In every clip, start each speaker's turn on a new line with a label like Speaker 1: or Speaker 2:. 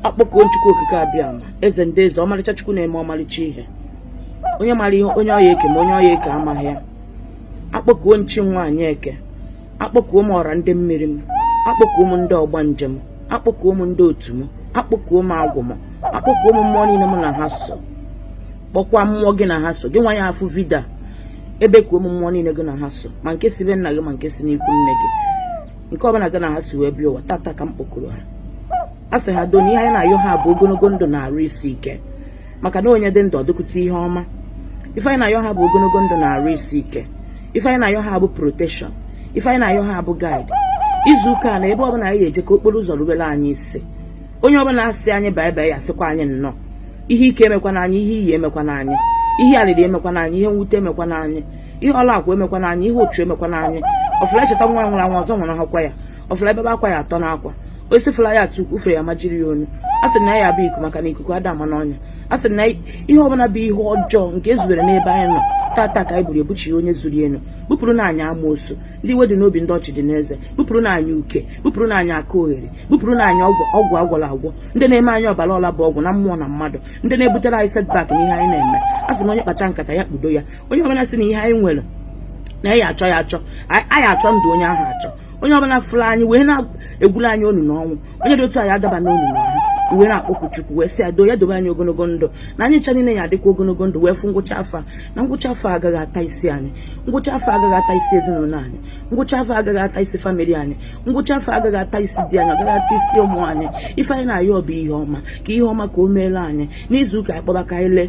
Speaker 1: akpọkuo m chukwu okike abịama eze ndị eze ọmalịcha chukwu na-eme ọmalịcha ihe onye mara ihe onye ọ ya-eke ma onye ọ ya-eke amaghị ya akpọkuo m chi nwaanyị eke akpọkuo m ọra ndị mmiri m akpọkuo m ndị ọgbanje m akpọkuo m ndị otu m akpọkuo m agwụ m akpọkuo m mmụọ niile m na ha so kpọkwa mmụọ gị na ha so gị nwa ya-afụ video a ebekuo m mmụọ niile gị na ha so ma nke si be nna gị ma nke si n'ikwu nne gị nke ọbụla gị na ha si wee bịa ụwa tata ka m kpọkuru ha a sị ha doo na ihe anyị na-ayọ ha bụ ogologo ndụ na arụ isi ike maka na onye dị ndụ ọ dịkwute ihe ọma ife anyị na-ayọ ha bụ ogologo ndụ na arụ isi ike ife anyị na-ayọ ha bụ protection ife anyị na-ayọ ha bụ guide izu ụka na ebe ọbụla anyị ga-eje ka okporo ụzọ rubere anyị isi onye ọbụla asị anyị bye bye ya sịkwa anyị nnọọ ihe ike emekwana anyị ihe iyi emekwana anyị ihe arịrị emekwana anyị ihe mwute emekwana anyị ihe ọla akwa emekwana anyị ihe ochu emekwana anyị ọfụla echeta nwa nwụrụ anwụ ọzọ nwụrụ hakwa ya ọfụla ebebe akwa ya atọ n'akwa osisi fụla ya atụ ufe ya majiri ya onu a sị na ya bụ iku maka na ikuku ada ama n'ọnya a sị na ihe ọbụla bụ ihe ọjọọ nke e zubere n'ebe anyị nọ tata ka anyị buru ebuchi onye zuru enu bupụrụnụ anyị amoosu ndị iwe dị n'obi ndị ọchị dị n'eze bupụrụnụ anyị uke bupụrụnụ anyị aka oghere bupụrụnụ anyị ọgwụ a gwọrọ agwọ ndị na-eme anyị ọbara ọla bụ ọgwụ na mmụọ na mmadụ ndị na-ebutere anyị setback n'ihe anyị na-eme a sị na onye kpacha nkata ya kpudo ya onye ọbụla sị na ihe anyị nwere na ya achọ ya achọ anyị achọ ndụ onye ahụ achọ onye ọbụla fụrụ anyị wee na-egwulu anyị onunu ọnwụ onye dị otu a ya adaba n'onunu ọnwụ wee na-akpọku chukwu wee sị ya doo ya dobe anyị ogologo ndụ na anyị ncha niile ya adịkwa ogologo ndụ wee fụ ngwụcha afọ na ngwụcha afọ agaghị ata isi anyị ngwụcha afọ agaghị ata isi ezinụlọ anyị ngwụcha afọ agaghị ata isi family anyị ngwụcha afọ agaghị ata isi di anyị agaghị ata isi ụmụ anyị ife anyị na-ayọ bụ ihe ọma ka ihe ọma ka o meela anyị n'izu ụka anyị kpọba ka anyị lee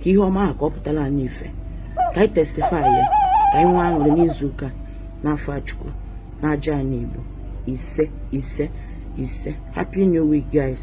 Speaker 1: ka ihe ọma ahụ ka ọ pụtara anyị ife ka anyị testify ya ka anyị nwee aṅụrị n'izu ụka n'afa chukwu na aja ana igbo ise ise ise happy new week guys